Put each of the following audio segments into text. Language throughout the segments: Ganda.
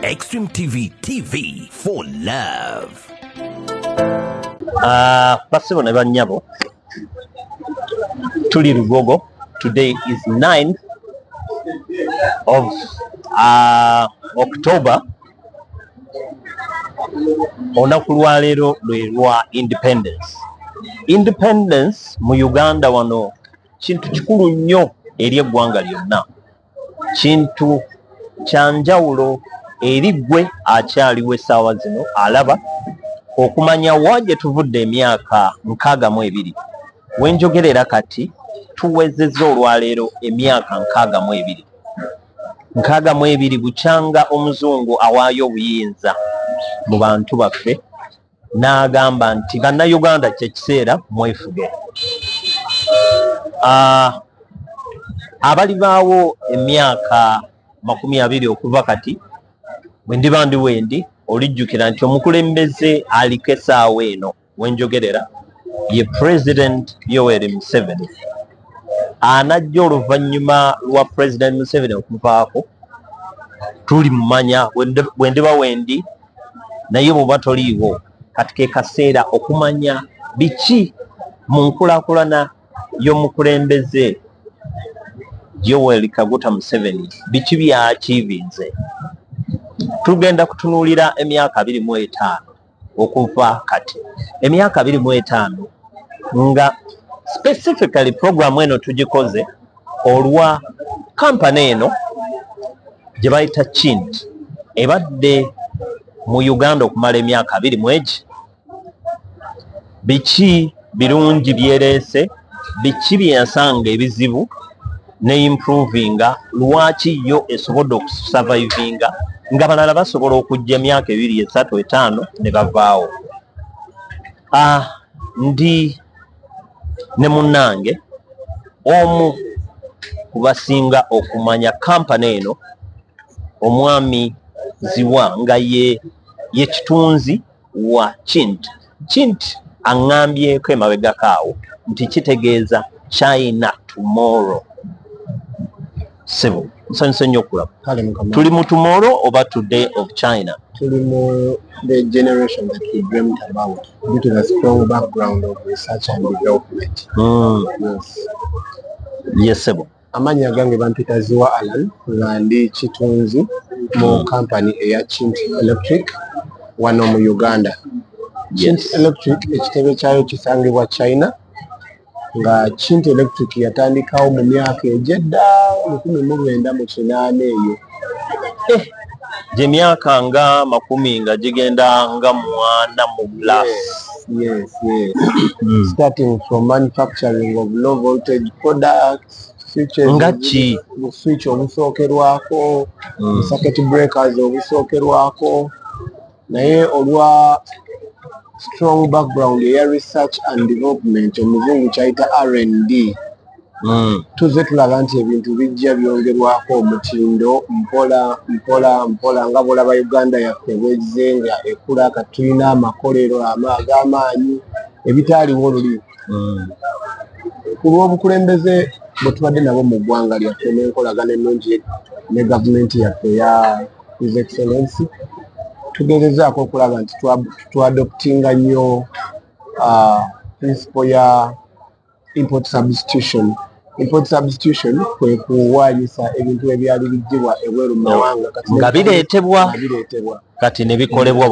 Extreme TV TV for love. Uh, basibo ne bannyabo tuli lugogo today is 9 of uh, october olunaku lwaleero lwe lwa independence independence mu uganda wano kintu kikulu nnyo eri eggwanga lyonna kintu kya njawulo eri ggwe akyaliwo essaawa zino alaba okumanya wa gye tuvudde emyaka nkaaga mu ebiri we njogerera kati tuwezezza olwaleero emyaka nkaaga mu ebiri nkaaga mu ebiri bukyanga omuzungu awaayo obuyinza mu bantu baffe n'agamba nti bannayuganda kyekiseera mwefuge ah, abalibaawo emyaka makumi abiri okuva kati bwe ndiba ndi wendi olijjukira nti omukulembeze aliko esaawa eno wenjogerera ye president yoweri museveni anajja oluvannyuma lwa president museveni okuvaako tuli mumanya bwendiba wendi naye bwoba toliiwo kati kekaseera okumanya biki mu nkulakulana y'omukulembeze Yoweri Kaguta Museveni biki byakiivinze tugenda kutunuulira emyaka abiri mu etaano. okuva kati emyaka abiri mu etaano nga specifically program eno tugikoze olwa kampani eno gye bayita kind ebadde mu uganda okumala emyaka abiri mwegi biki birungi byereese biki byensanga ebizibu ne improvinga lwaki yo esobodde okusavayivinga nga balala basobola okujja emyaka ebiri esatu etaano ne bavaawo ah, ndi ne munnange omu ku basinga okumanya kampani eno omwami ziwa nga ye ye kitunzi wa kint kint aŋŋambyeko emabegako awo nti kitegeeza china tomorrow sebo nsanyuse nnyo okulaba tuli mu tomorrow oba today of china tuli mu the generation that we dreamt about due to the strong background of research and development mm. yes. yes sebo Amanya gange bampita ziwa Alan nga ndi kitunzi mu kampani eya Chint Electric wano mu Uganda. Chint Electric ekitebe kyayo kisangibwa China nga Chint Electric yatandikawo mu myaka egyedda lukumi mu lwenda mu kinaana eyo. gyemyaka eh, nga makumi nga gigenda nga mwana mu plus yes, yes. Hmm. starting from manufacturing of low voltage products nga ki mu switch obusookerwako mu hmm. circuit breakers obusookerwako naye olwa strong background eya research and development omuzungu kyayita rnd hmm. tuzze tulaba nti ebintu bijja byongerwako omutindo mpola mpola mpola nga bwolaba uganda yaffe bwezze nga ekula kati tulina amakolero ag'amaanyi ebitaaliwo luli hmm. ku lw'obukulembeze bwe tubadde nabo mu ggwanga lyaffe n'enkolagana ennungi ne gavumenti yaffe ya his excellency tugerezaako okulaba nti twadoptinga nnyo uh, principle ya import substitution import substitution kwe kuwaanyisa ebintu ebyali biggibwa ebweru mu mawanga nga bireetebwa kati ne bikolebwa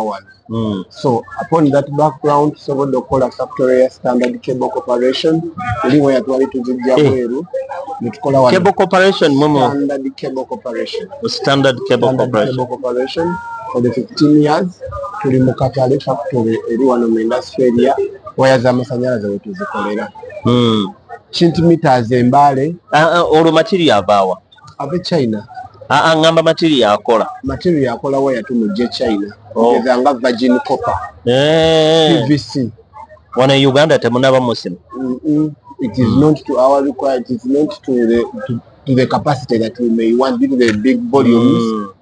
wano Mm. So upon that background tusobodde okukola factory ya standard cable corporation eri weya twali tuzijja eh. bweru netukola wa cable corporation mumu standard cable corporation standard cable corporation corporation for the 15 years tuli mu katale factory eri wano mu industry area waya za masanyalaze wetuzikolera mm. kinti meters embale uh, uh, olwo material avaawa ave china aa ah, ah, ngamba matiri yakola matiri yakola waya tumujje china oh. eza nga virgin copper eh. pvc wano e uganda temunaba musimu it is not to our require it is not to the, to, to the capacity that we may want due to the big volumes mm.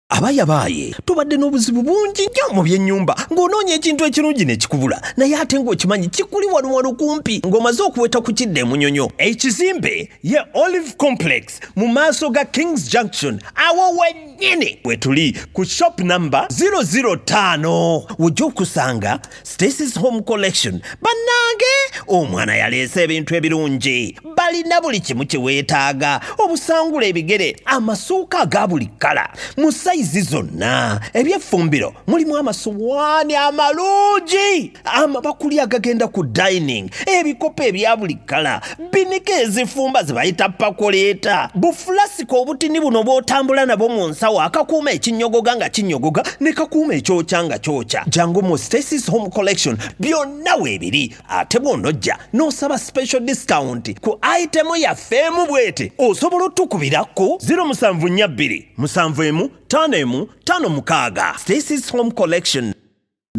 abayabaaye tubadde n'obuzibu bungi nnyo mu byennyumba ng'onoonya ekintu ekirungi ne kikubula naye ate ng'okimanyi kikuli waluwalu kumpi ng'omaze okuweta ku kidda emunyonyo ekizimbe ye olive complex mu maaso ga kings junction awo wennyini we tuli ku shop namba 005 wojja okusanga Stacy's Home Collection bannange omwana yaleese ebintu ebirungi balina buli kimu kye weetaaga obusangula ebigere amasuuka aga buli kkala mu sayizi zonna ebyeffumbiro mulimu amasuwaani amalungi amabakuli agagenda ku dining ebikopo ebya buli kkala binika ezifumba zibayita pakuleeta bufulasika obutini buno bw'otambula nabo mu nsawo akakuuma ekinyogoga nga kinyogoga ne kakuuma ekyokya nga kyokya jangu mu stasis home collection byonna weebiri ate bw'onojja n'osaba special discount ku itemu yaffe emu bwete osobola otukubira ku 0742 71 56 stasis home collection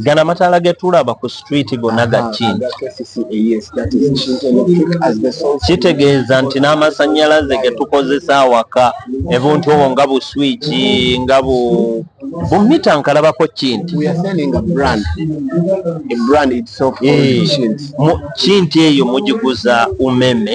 gana amataala getulaba ku street gonna gakinti kitegeeza nti n'amasanyalaze getukozesa awaka ebuntu obwo nga bu swiki nga bu bumita nkalabako kinti kinti eyo mugiguza umeme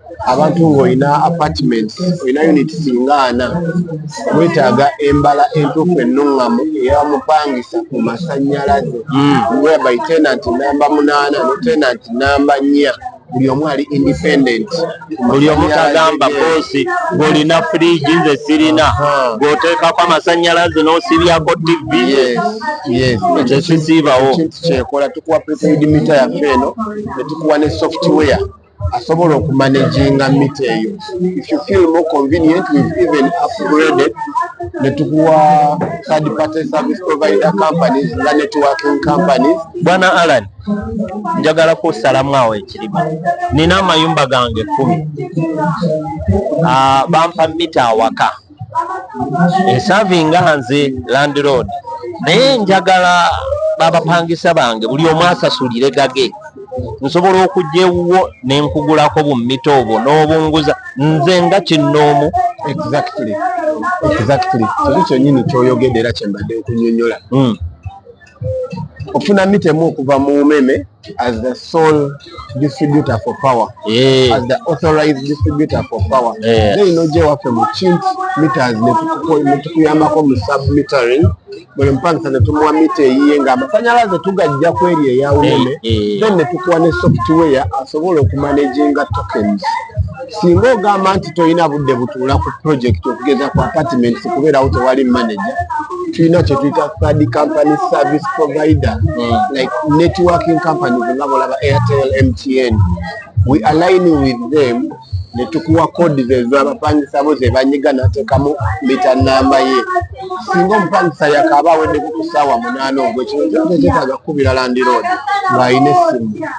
abantu ng'olina apartment olina unit singa ana wetaaga embala entuufu ennuŋŋamu eyamupangisa ku masannyalaze hmm. whereby tenant namba munaana ne tenant namba nnya buli omu ali independent buli omu tagamba boosi golina fridge nze sirina gwoteekako amasannyalaze n'osibyako tv ekyo kisiibawo kyekola tukuwa prepaid mita yaffe eno ne tukuwa ne software asobola okumanaginga mita eyo if you feel more convenient we've even upgraded ne tukuwa third party service provider companies nga networking companies bwana alan njagala kusalamu awo ekiriba nina amayumba gange kumi ah, bampa mita awaka esavinga nze landlord naye njagala babapangisa bange buli omu asasulire gage nsobola okujja ewuwo ne nkugulako bummita obwo n'obunguza nze nga kinnoomu exactly exactly kiri kyenyini kyoyogedde era kyembadde okunyonyola hmm. okufuna mita emu okuva mu umeme as the sole distributor for power yeah. as the authorized distributor for power yeah. then noje waffe mu chint meters netukuyambako mu submetering buli mupangisa netumuwa mita eyiye nga amasanyalaze tugajja kweri eya umeme then netukuwa ne software asobola okumanaginga tokens Singa ogamba nti tolina budde butuula ku project okugeza ku apartments kubeerawo tewali manager, tulina kye tuyita third company service provider mm. like networking companies nga bolaba Airtel, MTN. We align with them ne tukuwa kodi zezo abapangisa bo ze banyiga nateekamu mita namba ye. Singa omupangisa yakaaba aweddeko ku ssaawa munaana ogw'ekiro, kyetaaga kukubira landiroodi ng'alina essimu.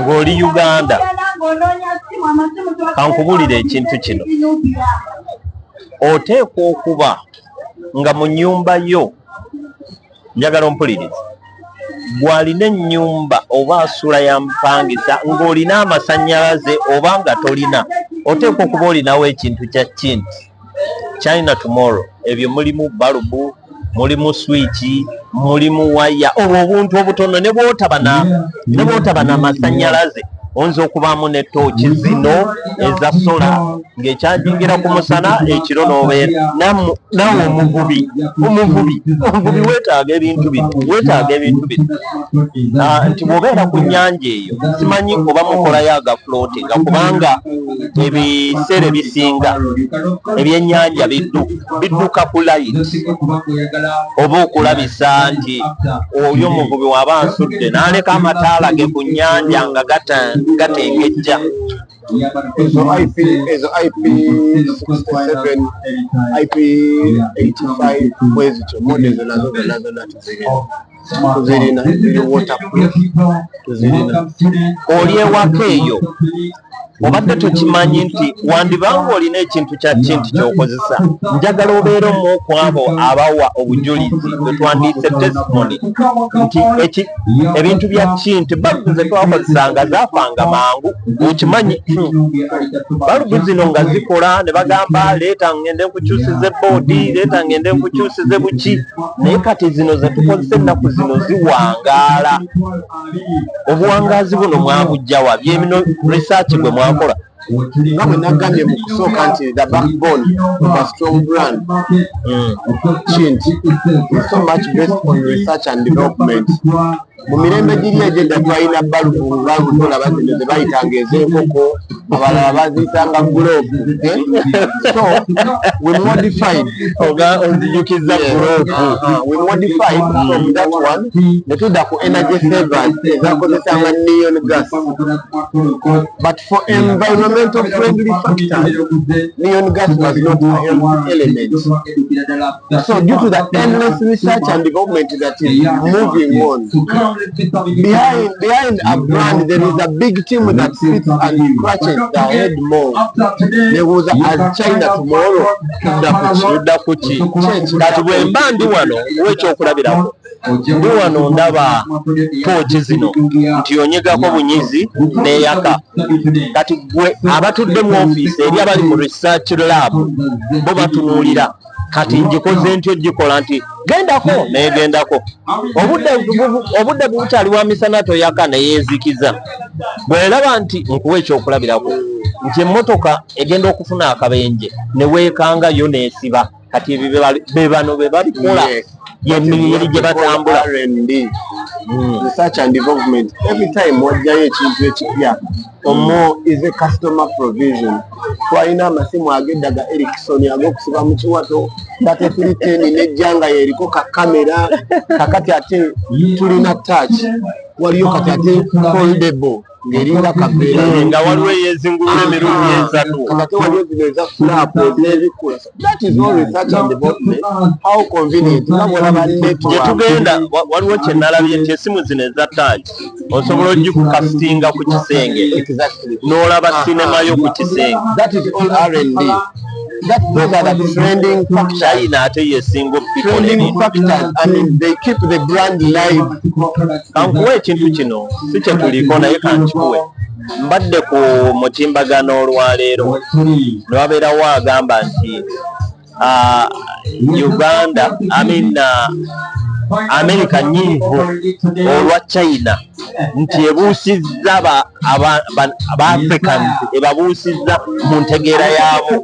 ng'oli uganda kankubulira ekintu kino oteekwa okuba nga mu nyumba yo njagala ompuliriza gwalina ennyumba oba asula yamupangisa ng'olina amasanyalaze oba nga tolina oteekwa okuba olinawo ekintu kya kinti china tomorrow ebyo mulimu balubu mulimu swiki mulimu waya obwo obuntu obutono nebwotaba namasanyalaze oyinza okubaamu ne tooki zino eza sola ng'ekyajingira ku musana ekiro n'obeera nawe omuvubi omuvubi omuvubi weetaaga ebintu bino weetaaga ebintu bino ah, nti bw'obeera ku nnyanja eyo simanyi oba mukolayo agafulootinga kubanga ebiseera ebisinga ebyenyanja bidduka ku layiti oba okulabisa nti oli omuvubi waba nsudde naleka amataala ge ku nyanja nga gatengejja ezo ip ezo ip 67 ip 85 bwezityo mode zona zona zona tuzirina tuzirina ziri waterproof tuzirina oli ewaka eyo obadde tokimanyi nti wandiba nga olina ekintu kya kinti kyokozesa njagala obeera omu ku abo abawa obujulizi bwetwandiise testimony nti ebintu bya kinti balubu zetwakozesanga zafanga mangu okimanyi balubu zino nga zikola ne bagamba leeta ngende nkukyusize boodi leeta ngende nkukyusize buki naye kati zino zetukozesa ennaku zino ziwangaala obuwangaazi buno mwabujjawa byemino research bwe mwakola nga bwe nagambye mu kusooka nti the backbone of a strong brand mm. kinti so much based on research and development mu mirembe giri egyedda twalina balubu balubu tolaba nti ze bayitanga ez'enkoko abalala baziyitanga guloobu eh? so we modified onzijukizza guloobu uh-huh. we modified from that one ne tudda ku energy savers ezakozesanga neon gas but for environmental friendly factors neon gas was not a health element So due to the endless research and development that is moving on, behind, behind a brand there is a big team that sits and scratches the head more. There was a, as China tomorrow, kudda kuki kati bwe mba ndi wano wekyokulabirako ndi wano ndaba pooki zino nti onyigako bunyizi neyaka kati gwe abatudde mu ofiisi eri abali mu research lab bo batunuulira kati ngikoze nti ogikola nti gendako naye gendako obudde bubukyali bwa misana toyaka neyezikiza bweraba nti nkuwa ekyokulabirako nti emotoka egenda okufuna akabenje newekanga yo nesiba kati bebano bebabikola yemiyiri gyebatambula hmm. wajjayo ekintu ekipya omo is a customer provision twalina amasimu agedda ga erikson agokusiba mu kiwato batefiriteni nejja nga yeriko ka kamera kakati ate tulina touch waliyo kati ate foldable ngeringa kabeera nga waliwo eyezingulula emirundi esatu kakati waliyo zino eza fulapu ezebikula That is not research and development. How convenient. Gyetugenda waliwo kye nalabye nti esimu zino eza touch osobola ogikukasitinga ku kisenge n'olaba ah, sinema ah. yo ku kisenge. That is all R&D. That those are the trending factors. China ate yesinga trending factors and they keep the brand live. Kankuwa ekintu kino si kye tuliko naye kankikuwe. Mbadde ku mutimbagano olwaleero newabeerawo agamba nti uh, Uganda I mean, uh, Amerika nyiivu olwa China nti ebuusizza ba Africans ebabuusizza mu ntegeera yaabo.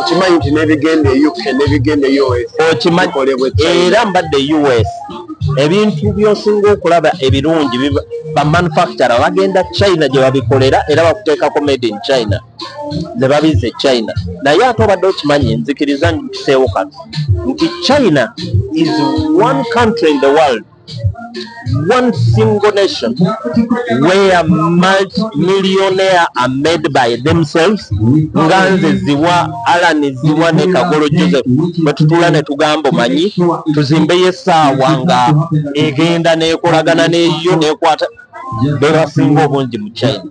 okimanyi nti nebigenda e uk nebigenda e us okimanyi era mbadde e us ebintu byosinga okulaba ebirungi bamanufacture bagenda china gyebabikolera era bakuteekako made in china nebabiza e china naye ate obadde okimanyi nzikiriza nkiseewo kano nti china is one country in the world one single nation where multimillionaire are made by themselves nga nze ziwa alan ziwa ne kagolo joseph bwetutula netugambo manyi tuzimbeyo esaawa nga egenda nekolagana neyo nekwata bebasinga obungi mu china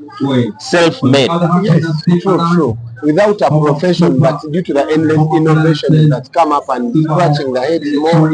self made yes, true, true. without a profession but due to the endless innovation that come up and scratching the head more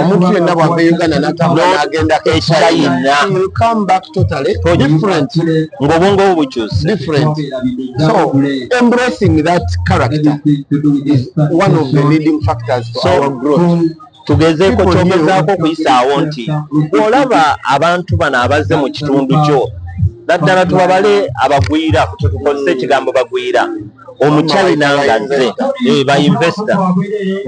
omuntu yenna bwava e uganda natambula nagenda e china ngaobwongo bwo bukyuse tugezeeko kyogezaako okuyisaawo nti olaba abantu bano abazze mu kitundu kyo naddala tubabale abagwira kyetukozesa ekigambo bagwira omukyali nangaze eh, ba investor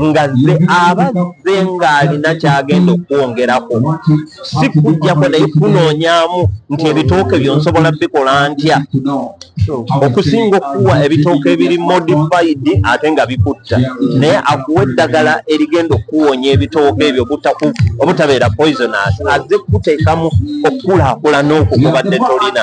ngaze abazze ng'alina kyagenda okwongerako si kujjako naye kunoonyamu nti ebitooke byonsobola bikola ntya okusinga okuwa ebitooke ebiri modified ate nga bikutta naye akuwa eddagala erigenda okuwonya ebitooke ebyo obutabeera poisonous azze kukuteekamu okukulaakulana okwo kubadde tolina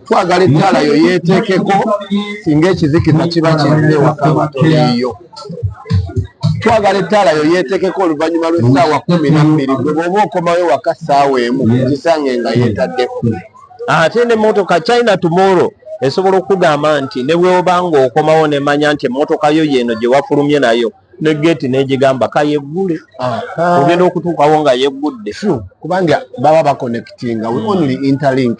twagala ettaala yo yeeteekeko singa ekizikiza kiba kizze waka nga toliiyo twagala ettaala yo yeeteekeko oluvannyuma lw'essaawa kumi na bbiri gwe bw'oba okomawo waka ssaawa emu kisange nga yeetaddeko ate ne motoka china tomorrow esobola okugamba nti ne bweoba nga okomawo nemanya nti emotoka yo yeeno gye wafulumye nayo ne geeti negigamba kayeggule ogenda okutuukawo nga yeggudde kubanga baba bakonectinga we only interlink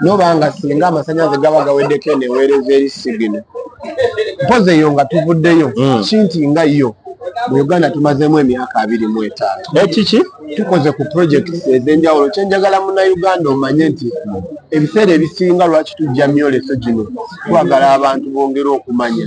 noba nga singa amasanyalaze gaba gaweddeko eno eweereza eri sigino mpozi eyo nga tuvuddeyo hmm. kinti nga yo mu uganda tumazeemu emyaka abiri mu etaano ekiki eh, tukoze ku projekiti ez'enjawulo kyenjagala munauganda omanye nti ebiseera ebisinga lwaki tujja myoleso gino twagala abantu bongere okumanya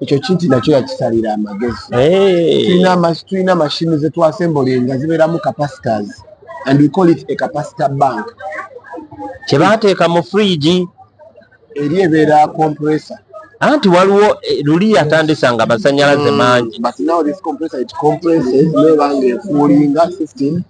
ekyo kinti nakyo yakisalira amagezi tulina mashini zetwasembolye nga zibeeramu capacitors and we call it a capacitor bank kyebateeka mu fridge eri ebeera compressor anti waliwo eh, luli yatandisa nga masanyalaze hmm, mangi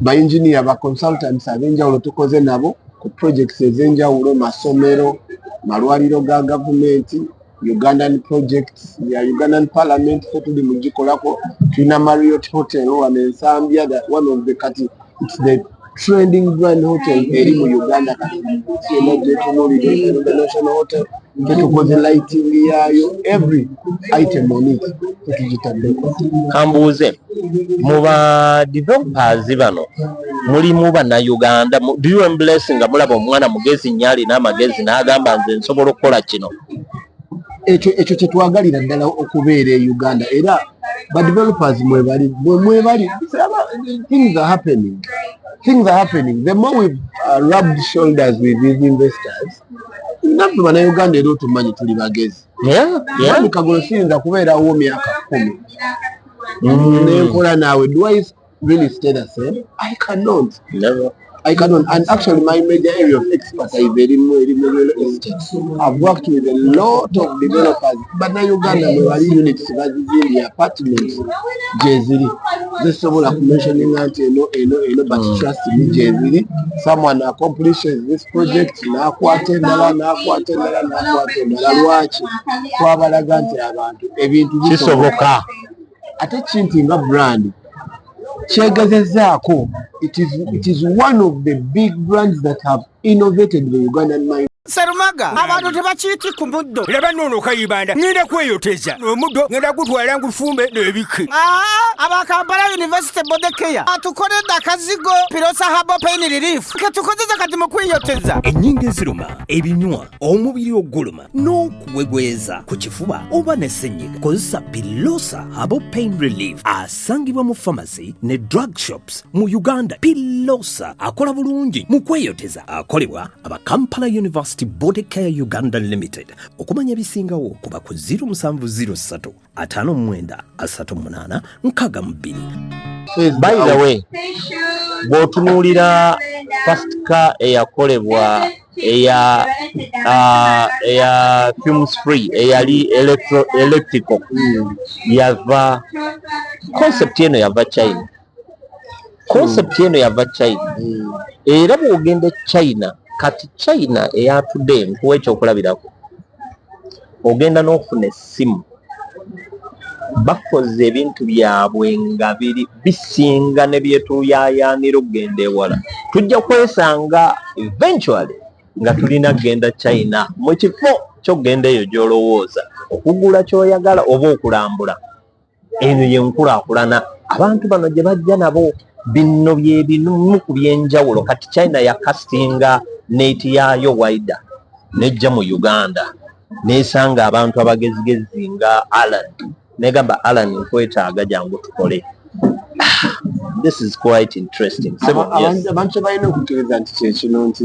ba engineer ba consultants ab'enjawulo tukoze nabo ku projects ez'enjawulo masomero malwaliro ga gavumenti ugandan projects ya ugandan parliament fe tuli mugikolako tulina mariot hotel wano ensambya one of the kati its the trending brand hotel eri mu uganda kati national hotel tetukoze lighting yaayo every item on it tetugitaddeko kambuuze mu ba developers bano mulimu bannayuganda do you embless nga mulaba omwana mugezi nnyo alina amagezi n'agamba nze nsobola okukola kino ekyo ekyo kyetwagalira ddala okubeera e uganda era ba developers mwebali mwebali things are happening things are happening the more we uh, rubbed shoulders with these investors naffe banauganda era otumanyi tuli bagezi ani kagolo siyinza kubeerawo myaka kumi mm. nenkola naawe dwice really stay the same i cannot Never. I can on, and actually my major area of expertise is in real estate. I've worked with a lot of developers bannayuganda mwebali units bazizimbye apartment gyeziri zisobola kumensioninga nti eno eno eno but mm. trust me gyeziri someone accomplishes this project nakwata endala nakwata endala nakwata endala lwaki twabalaga nti abantu ebintu kisoboka ate kinti nga brand kyegezezaako it is one of the big brands that have innovated the ugandan mind Serumaga abantu tebakiiti ku muddo laba noono kayibanda ngenda kweyoteza omuddo ngenda gutwala ngufumbe n'ebiki abakampala university body care atukoledde akazigo pirosa habo pain relief ketukozeza kati mu kweyoteza ennyingo eziruma ebinywa omubiri oguluma n'okuwegweza ku kifuba oba ne ssenyiga kozesa pilosa habo pain relief asangibwa mu famasi ne drug shops mu uganda pilosa akola bulungi mu kweyoteza akolebwa aba kampala university body care uganda limited okumanya ebisingawo kuba ku 0703 59 62 by the way bw'otunuulira first car eyakolebwa eya uh, eya fumes free eyali electrical hmm. yava concept eno yava china concept eno yava china hmm. era bwogenda e china kati china eyatudde nkuwa ekyokulabirako ogenda n'ofuna essimu bakoze ebintu byabwe nga biri bisinga ne byetuyayaanira okugenda ewala tujja kwesanga eventually nga tulina kugenda china mu kifo kyokugenda eyo gy'olowooza okugula ky'oyagala oba okulambula eno yenkulaakulana abantu bano gye bajja nabo bino byebimu ku byenjawulo kati china yakasinga neeti yaayo waida nejja mu uganda nesanga abantu abagezigezi nga alan negamba alan nkwetaaga jangu tukole this is quite interesting abantu kyebalina okukkiriza nti kyekino nti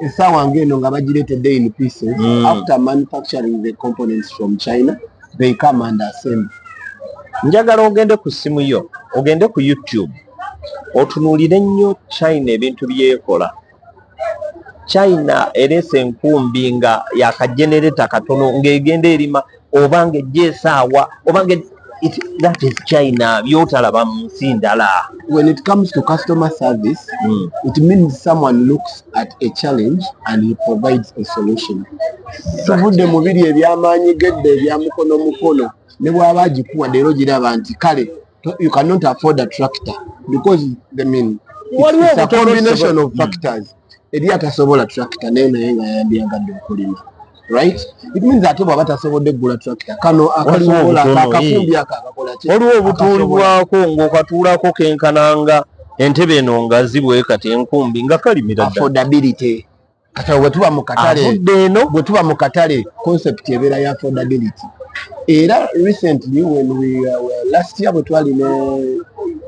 essaawa ng'eno nga bagireetedde in pieces mm. after manufacturing the components from china they come and assemble njagala ogende ku ssimu yo ogende ku youtube otunuulire nnyo china ebintu byekola china ereese enkumbi nga yakajenereta katono ng'egenda erima obanga ejja esaawa obanga it, that is china byotalaba mu nsi ndala when it comes to customer service mm. it means someone looks at a challenge and he provides a solution tuvudde mu biri ebyamaanyi gedde ebyamukono mukono ne bwaba agikuwa leero giraba nti kale you cannot afford a tractor because the mean it's, it's a combination of hmm. factors mm. eri atasobola tractor naye naye nga yandyagadde okulima right it means ate bwaba tasobodde kugula tractor kano akasobola akakumbi ako akakola ki waliwo obutuulibwako ng'okatuulako kenkananga entebe eno nga zibwe kati enkumbi nga kalimira affordability kati bwe tuba mu katale avudde eno bwe tuba mu katale concept ebeera ya affordability era recently when we uh, last year bwe twali ne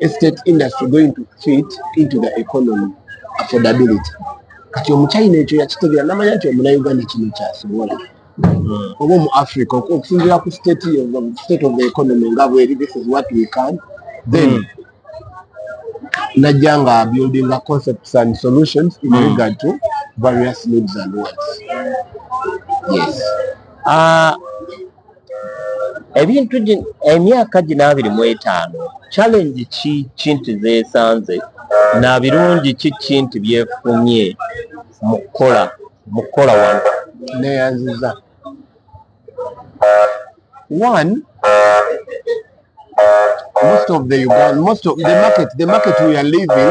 estate industry going to fit into the economy affordability kati omuchina ekyo yakitegera namanya nti omunauganda kino kyasobola oba omu africa okusinzira ku state of the economy nga bweri this is what we can then mm. najja nga building a concepts and solutions in mm. regard to various needs and wants yes uh, ebintu emyaka gino abiri mu etaano challenge ki kinti zesanze na birungi ki kinti byefunye mu kukola mu kukola wano neyanziza one most of the Uganda, most of the market, the market we are living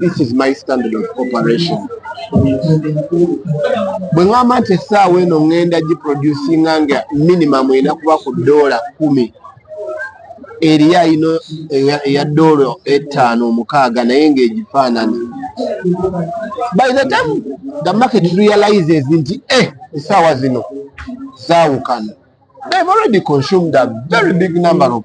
this is my standard of operation bwe ŋamba nti essaawa eno ŋŋenda giproducinga nga minimum erina kuba ku doola kumi eriyo ayina eya doola ettaano omukaaga naye ng'egifaanana by the time the market realizes nti e eh, essaawa zino zaawukana they've already consumed a very big number of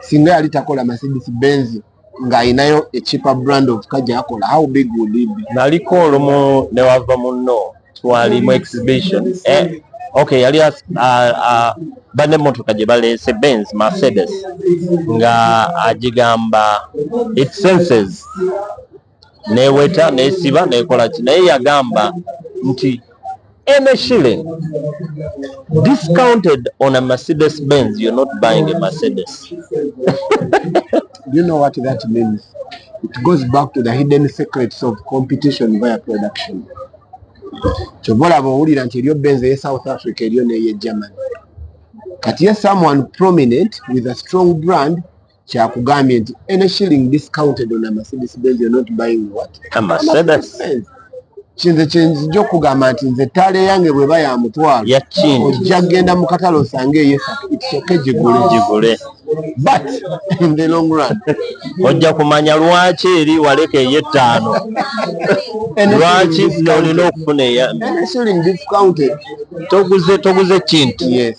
singa yali takola mercedes benz ng'alinayo ekipa brand of ka gyakola how big would it be naliko olumu newava munno twali mu exhibition eh, okay yali uh, uh, bane emotoka gye baleese benz mercedes nga agigamba it senses neweta nesiba nekola ki naye yagamba nti any shilling discounted on a mercedes benz you're not buying a mercedes you know what that means it goes back to the hidden secrets of competition via production kyova olaba owulira nti eryo benz eye south africa eryo neye germany kati ye someone prominent with a strong brand kyakugambye nti any shilling discounted on a mercedes benz you're not buying what a mercedes kinze kyenzija okugamba nti nze ettaala eyange bweba ya mutwalo ojja kugenda mu katale osange eyo esoke gigule gigule but in the long run ojja kumanya lwaki eri waleka eyo ettaano lwaki olina okufuna eya toguze toguze kintu yes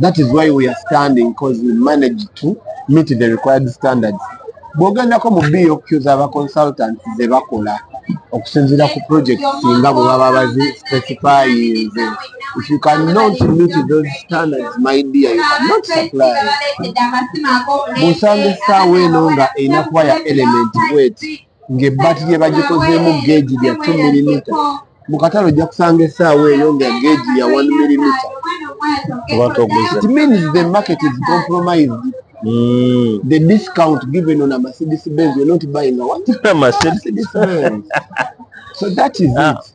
that is why we are standing because we manage to meet the required standards bwogendako mu boq zaba consultant zebakola okusinzira ku project singa bwe baba bazi specifyinze if you cannot meet those standards my dear you cannot supply bwosanga essaawa eno nga erina kuba ya element wet ng'ebbaati lye bagikozeemu geegi lya 2 milimita mu katale ojja kusanga essaawa eyo nga geegi ya 1 milimita it means the market is compromised Mm. The discount given on a Mercedes Benz, you're not buying a what? a Mercedes Benz. so that is ah. it.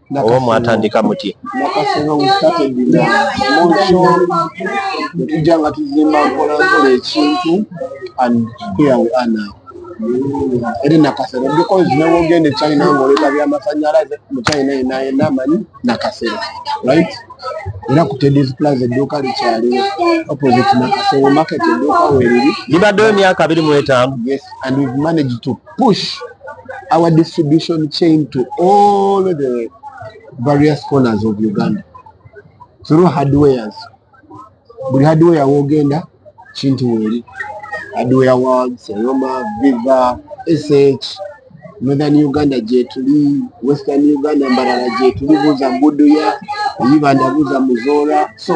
oba mwatandika muti nakasenga we started na monsho netujja nga tuzimba nkola nkola ekintu and here we are now eri nakasero because nawe ogenda echina ngaoleta byamasanyalaze muchina enayena amanyi nakasero right era ku tedis plus edduuka likyaliwo opposite nakasero market edduuka weriri libaddewo emyaka abiri mu etaano yes and we've managed to push our distribution chain to all the various corners of uganda through hardwares buli hardware wogenda kintu weli hardware world seroma viva sh northern uganda gyetuli western uganda mbarala gyetuli buza mbuduya eyibanda buza muzora so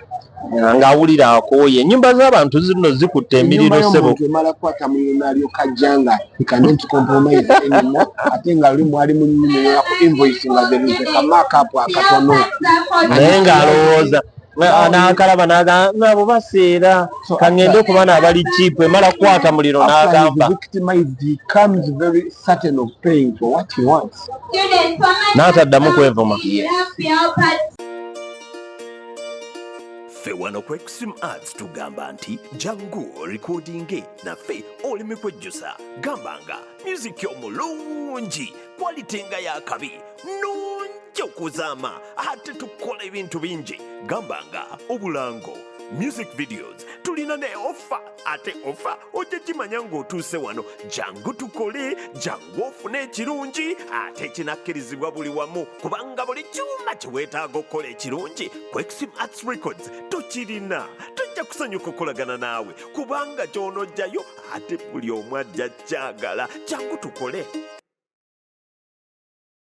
ng'awulira akooye ennyumba z'abantu zino zikutte emiriro sebo emala kukwata muliro nalyoka ajja nga ikanenti kompromise enimo ate nga luli mwali munyumira ku invoice nga zerize kamakapu akatono naye ng'alowooza n'akalaba n'agamba nabo baseera kangende okuba n'abali kiipu emala kukwata muliro n'agamba n'ataddamu kwevuma ffe wano ku extreme arts tugamba nti jangu orikodinge naffe oleme kwejjusa gamba nga myuziki omulungi kwalite nga yakabi nungi okuzaama ate tukola ebintu bingi gamba nga obulango music videos tulina ne ofa ate ofa ojja kimanya ng'otuuse wano jangu tukole jangu ofune ekirungi ate kinakkirizibwa buli wamu kubanga buli kyuma kye weetaaga okukola ekirungi kwexim arts records tukirina tujja kusanyuka okukolagana naawe kubanga ky'onojjayo ate buli omu ajja kyagala jangu tukole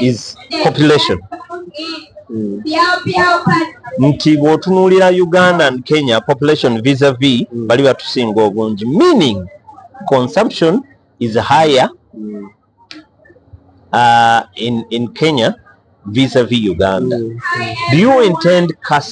is population mm. nti bwotunuulira uganda and kenya population visa v mm. bali batusinga obungi meaning consumption is higher mm. uh, in, in kenya visa v uganda mm. do you intend cast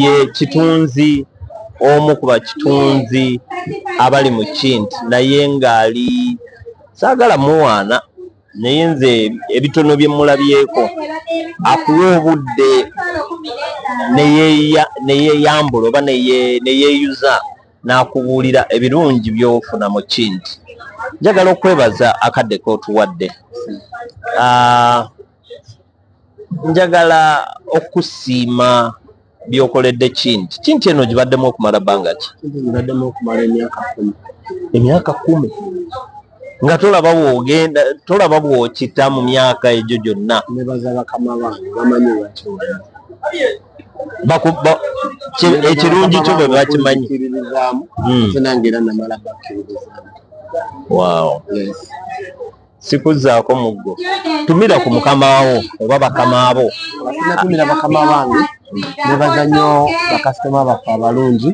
ye kitunzi omu ku bakitunzi abali mu kinti naye ng'ali saagala muwaana naye nze ebitono bye mulabyeko akuwa obudde neyeyambula oba neyeyuza n'akubuulira ebirungi by'ofuna mu kinti njagala okwebaza akadde k'otuwadde ah, njagala okusiima byokoledde kinti kinti eno gibaddemu okumala bbanga ki gibaddemu okumala emyaka kumi emyaka kumi nga tolaba wogenda tolaba bwokita mu myaka egyo gyonna nebaza bakama bange bamanyi wakiwona ekirungi kyo bwe bakimanyi hmm. nange era namala bakkiririzaamu wow yes. sikuzzaako muggo tumira ku mukamaawo oba bakamaabo natumira bakama bange nebaza nnyo bakasitoma baffe abalungi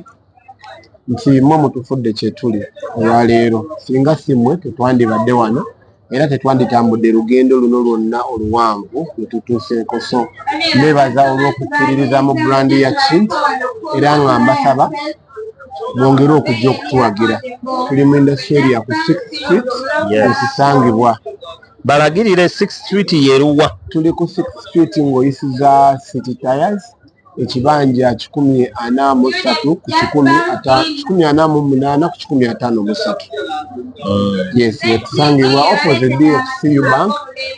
nti mwe mutufudde kyetuli olwaleero singa si mmwe tetwandibadde wano era tetwanditambudde lugendo luno lwonna oluwanvu lwetutuuseeko so nebaza olw'okukkiririza mu brandi ya kint era nga mbasaba mwongere okujja okutuwagira tuli mu industry ya ku six street ekisangibwa balagirire six street yeruwa tuli ku six street ng'oyisiza city tires ekibanja kikumi ana mu ssatu ku kikumi ata kikumi ana mu munaana ku kikumi ataano mu ssatu yes wetusangibwa opposite dfcu bank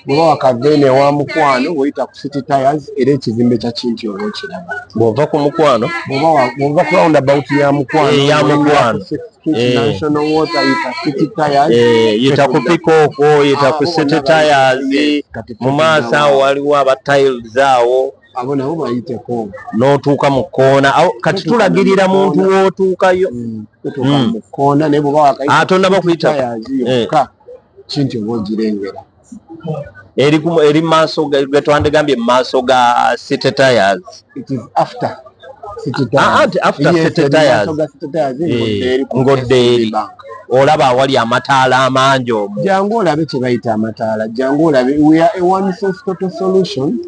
bwoba wakavene wa mukwano weyita ku city tires era ekizimbe kya kinti oba okiraba bwova ku mukwano bwova ku round about ya mukwano ya mukwano yita ku pikooko yita ku city tires mu maaso awo waliwo aba tiles awo abo nabo bayiteko n'otuuka mu kkoona kati tulagirira muntu w'otuukayo mm, mm. mu kkoona naye bweba wakayitaatonda ah, bakuyita eh. kinti oba ogirengera eri maaso getwandigambye mu maaso ga city tires ah, eh, ng'oddeeri olaba awali amataala amangi omu jangu olabe kye bayita amataala jangu olabe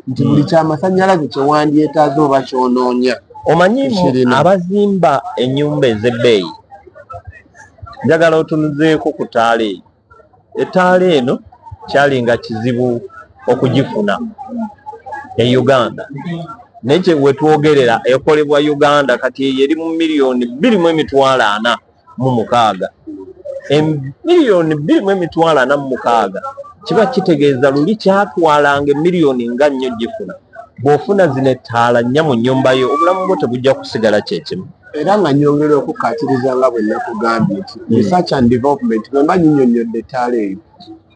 nti buli kyamasannyalaze kyewandyetaaza oba kyonoonya omanyi abazimba ennyumba ez'ebbeeyi njagala otunuzeeko ku taala eyo ettaala eno kyali nga kizibu okugifuna e uganda naye kyewetwogerera ekolebwa uganda kati eyo eri mu miliyoni bbiri mu emitwalo ana mu mukaaga emiliyoni bbiri mu emitwalo ana mu mukaaga kiba kitegeeza luli kyatwalanga emiliyoni nga nnyo gifuna bw'ofuna zino ettaala nnya mu nnyumba yo obulamu bwo tebujja kusigala kyekimu era nga nyongera okukkaatiriza nga bwe nakugambye nti hmm. research and development bwe mba nyinyonnyodde ettaala eyo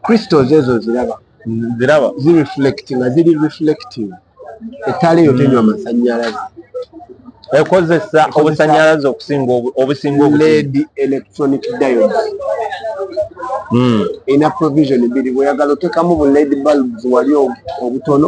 crystals ezo ziraba ziraba zireflect nga ziri reflective ettaala eyo tenywa hmm. masannyalaze ekozesa obusannyalaze okusinga obusinga led electronic diod hmm. ina provision biri bweyagala otekamu bu led bulbs wali obutono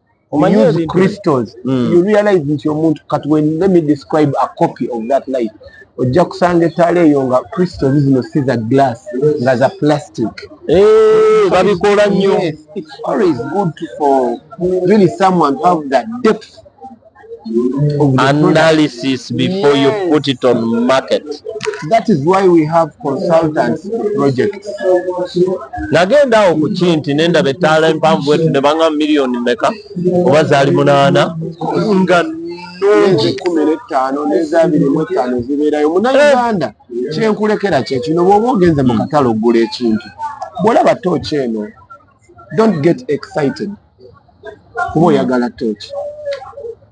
omanyi use crystals mm. you realize nti omuntu kati when let me describe a copy of that light ojja kusanga ettaala eyo nga crystals zino si za glass nga za plastic eh, babikola nnyo it's always good for really someone to have that depth analysis before yes. you put it on market that is why we have consultants projects nagenda awo ku kinti nendaba ettaala empanvu wetu ne banga miliyoni meka oba zaali munaana nga nungi kumi nettaano nezabiri mu ettaano zibeerayo munauganda eh. kyenkulekera kyekino bwoba ogenze mu katale okugula ekintu bwolaba tooki eno don't get excited kuba oyagala tooki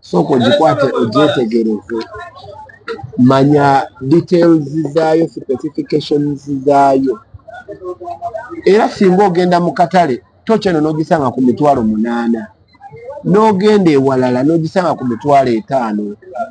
sooka ogikwate ogyetegereze manya details zaayo specifications zaayo era singa ogenda mu katale tooki eno n'ogisanga ku mitwalo munaana n'ogenda ewalala n'ogisanga ku mitwalo etaano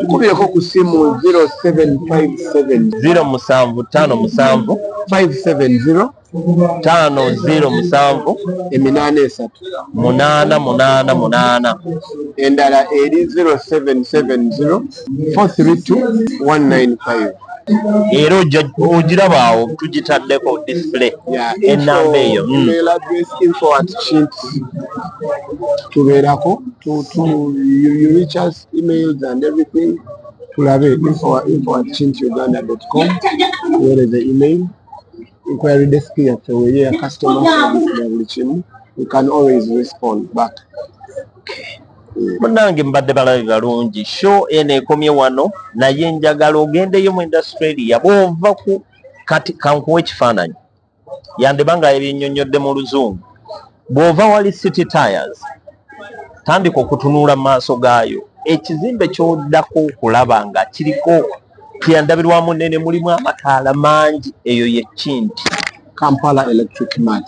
tukubyeko ku simu 0757 musanvu tano musanvu 570 tano zero musanvu eminaana esatu munaana munaana munaana endala eri 0770 432195 era ogirabaawo tugitaddeko display enamba eyo hmm. tubeerako emails and everything tulabe info info at chintuganda.com where the email inquiry desk yaffe weri ya customer service na buli kimu we can always respond back munange mbadde balabe balungi show eno ekomye wano naye njagala ogendeyo mu industralia bwova ku kati kankuwa ekifaananyi yandiba nga yebinnyonnyodde mu luzungu bw'ova wali city tires tandika okutunuula mu maaso gaayo ekizimbe kyoddako okulaba nga kiriko kyeyandabirwamu nene mulimu amataala mangi eyo yekinti Kampala Electric Mart.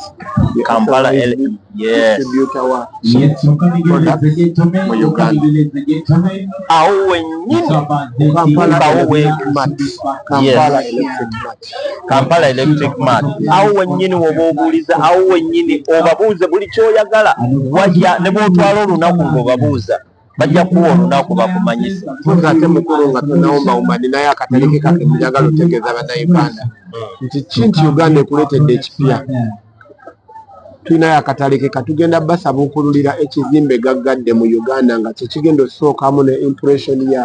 Kampala Electric, yes. Awo wenyini Kampala Electric Mart. Kampala Electric Mart. Kampala Electric Mart awo wennyini woba obuuliza awo wennyini obabuuze buli kyoyagala wajja ne bwotwala olunaku ng'obabuuza bajja kuwa olunaku bakumanyise fuza ate mukulu nga tunawomawoma ninayo akatale ke kake njagala otegeeza bannayuganda nti ki nti uganda ekuleetedde ekipya tulinayo akatale ke katugenda basabuukululira ekizimbe gaggadde mu uganda nga kyekigenda osookamu ne impression ya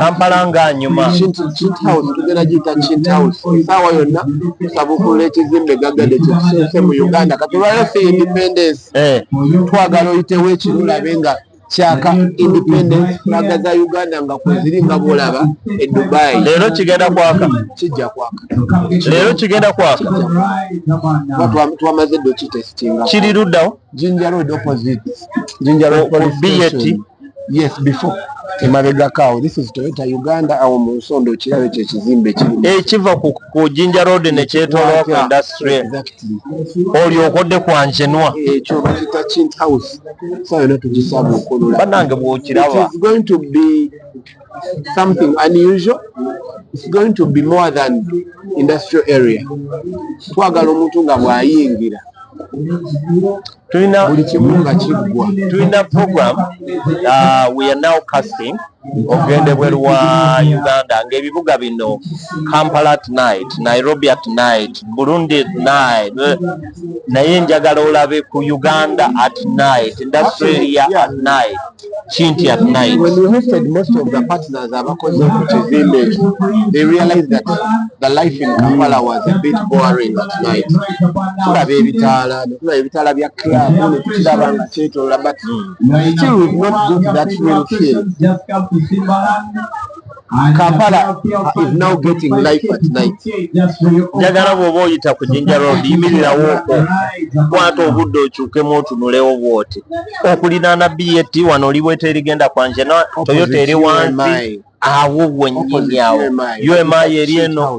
kampala nga nyuma tugenda giyita kinthouse esaawa yonna tusabukulula ekizimbe gaggade kyekisense mu uganda kati olwaliro fe independence eh. twagala oyitewo ekirulabe nga kyaka independence flaga za uganda nga kweziri nga bwolaba e dubai leero kigenda kwaka kijja kwaka leero kigenda kwaka twamaze dokitestinga kiri luddawo jinja road opposite jinja road police station yes before emabegako awo this is toyota uganda awo mu nsonda okiraba ekyo ekizimbe kiri ekiva ku jinja road nekyetolowa ku industry olyoka odde kwanjenwa ekyo bakita kint house sa yona tugisaba okulula banange bwokiraba is going to be something unusual it's going to be more than industrial area twagala omuntu nga bwayingira tulina buli kimu nga kiggwa tulina program uh, we are now casting okugenda ebweru wa uganda ng'ebibuga bino kampala at night nairobi at night burundi at night naye njagala olabe ku uganda at night industrialia at night Chinti at night. When we hosted most of the partners abakoze ku kizimbe ekyo, they realized that the life in Kampala was a bit boring at night. Tulaba ebitaala, tulaba ebitaala bya club, ne tukiraba nga kyetoola, but still we've not got that real feel. Kampala is now getting life at night. Njagala bw'oba oyita ku Jinja Road yimirirawo okwo kwata obudde okyukemu otunulewo bw'oti okulinaana BAT wano oli bweta erigenda kwanje na Toyota eri wansi awo wennyini awo UMI eri eno.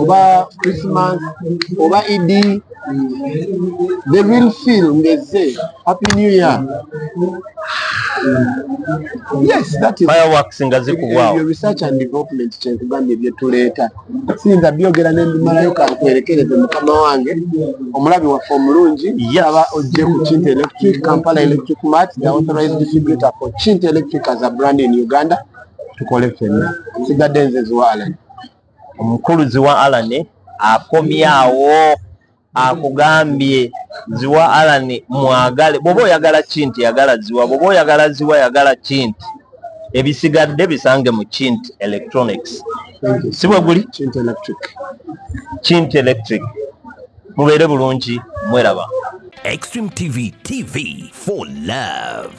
oba christmas oba idi the real feel ngezze happy new year yes that is fireworks nga zikubwao your research and development kyenkugambye byetuleeta siyinza byogera nembimalayo kankwerekereze mukama wange omulabi waffe omulungi aba ojje ku chint electric kampala electric mat the authorized distributor for chint electric as a brand in uganda tukole fenna sigadde nze ziwaalani omukulu ziwa alane akomyawo akugambye ziwa alane mwagale bwoba oyagala kinti yagala ziwa bwoba oyagala ziwa yagala kinti ebisigadde bisange mu kint electronics si bwe guli kint electric mubeere bulungi mweraba extreme tv tv for love